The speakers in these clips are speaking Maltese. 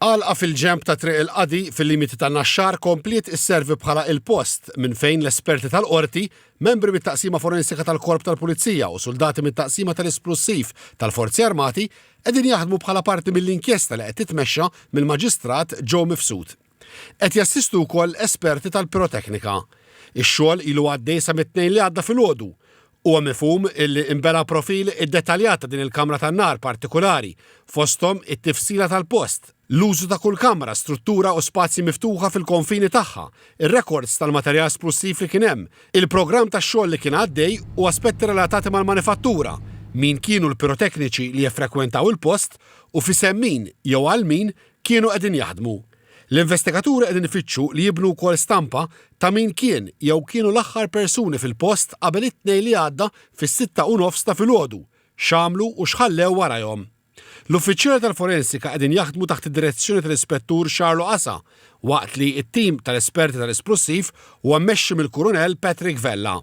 Għalqa fil-ġenb ta' Triq il-Qadi fil-limiti ta' Naxxar kompliet isservi bħala il-post minn fejn l-esperti tal-Qorti, membri mit-Taqsima Forensika tal-Korp tal-Pulizija u suldati mit-Taqsima tal-Isplussiv tal-Forzi Armati qegħdin jaħdmu bħala parti mill-inkjesta li qed titmexxa mill-Maġistrat Joe Mifsud. Qed jassistu wkoll esperti tal-piroteknika. Ix-xogħol ilu għaddej sa mit-Tnejn li għadda filgħodu. Huwa mifhum illi inbena profil iddettaljat ta' din il-kamra tan-nar partikulari, fosthom it-tifsila tal-post, l-użu ta' kull kamra, struttura u spazji miftuħa fil-konfini tagħha, ir-rekords tal-materjal splussiv li kien hemm, il-programm tax-xogħol li kien għaddej u aspetti relatati mal-manifattura, min kienu l-pirotekniċi li jeffrekwentaw il-post u f'isem min jew għal min kienu qegħdin jaħdmu. L-investigaturi qegħdin ifittxu li jibnu wkoll stampa ta' min kien jew kienu l-aħħar persuni fil-post qabel it-Tnejn li għadda fis-sitta u nofs ta' filgħodu, x'għamlu u x'ħallew warajhom. L-uffiċjali tal-forensika qegħdin jaħdmu taħt id-direzzjoni tal-Ispettur Charlo Asa waqt li t-tim tal-esperti tal-isplussiv huwa mmexxi mill-Kurunell Patrick Vella.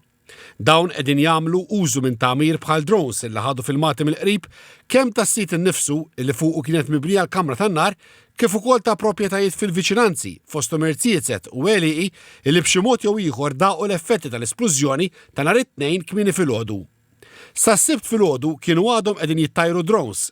Dawn qegħdin jagħmlu użu minn tagħmir bħal drones illi ħadu filmati mill-qrib kemm tas-sit innifsu illi fuqu kienet mibnija l-kamra tan-nar kif ukoll ta' proprjetajiet fil-viċinanzi, fosthom irziezet u għelieqi illi b'xi mod jew ieħor daqu l-effetti tal-isplużjoni ta' nhar it-Tnejn kmieni filgħodu. Sas-Sibt filgħodu kienu għadhom qegħdin jittajru drones.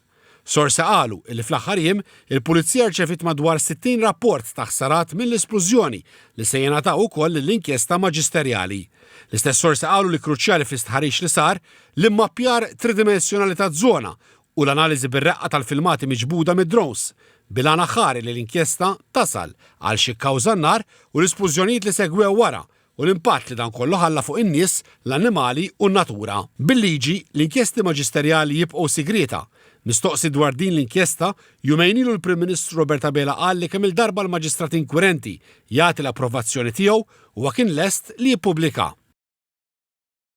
Sorsi qalu li fl-aħħar jiem, il-Pulizija rċeviet madwar 60 rapport ta' ħsarat mill-isplużjoni li se jingħataw ukoll lill-inkjesta maġisterjali. L-istess sorsi qalu li kruċjali fl-istħarriġ li sar, l-immappjar tridimensjonali taż-żona u l-analiżi bir-reqqa tal-filmati miġbuda mid-drones, bil-għan aħħari li l-inkjesta tasal għal x'kkawża n-nar u l-isplużjonijiet li segwew wara u l-impatt li dan kollu ħalla fuq in-nies, l-annimali u n-natura. Bil-liġi, l-inkjesti maġisterjali jibqgħu sigrieta. Mistoqsi dwar din l-inkjesta, jumejn ilu l-Prim Ministru Robert Abela qal li kemm-il darba l-Maġistrat inkwirenti jagħti l-approvazzjoni tiegħu, huwa kien lest li jippubblikaha.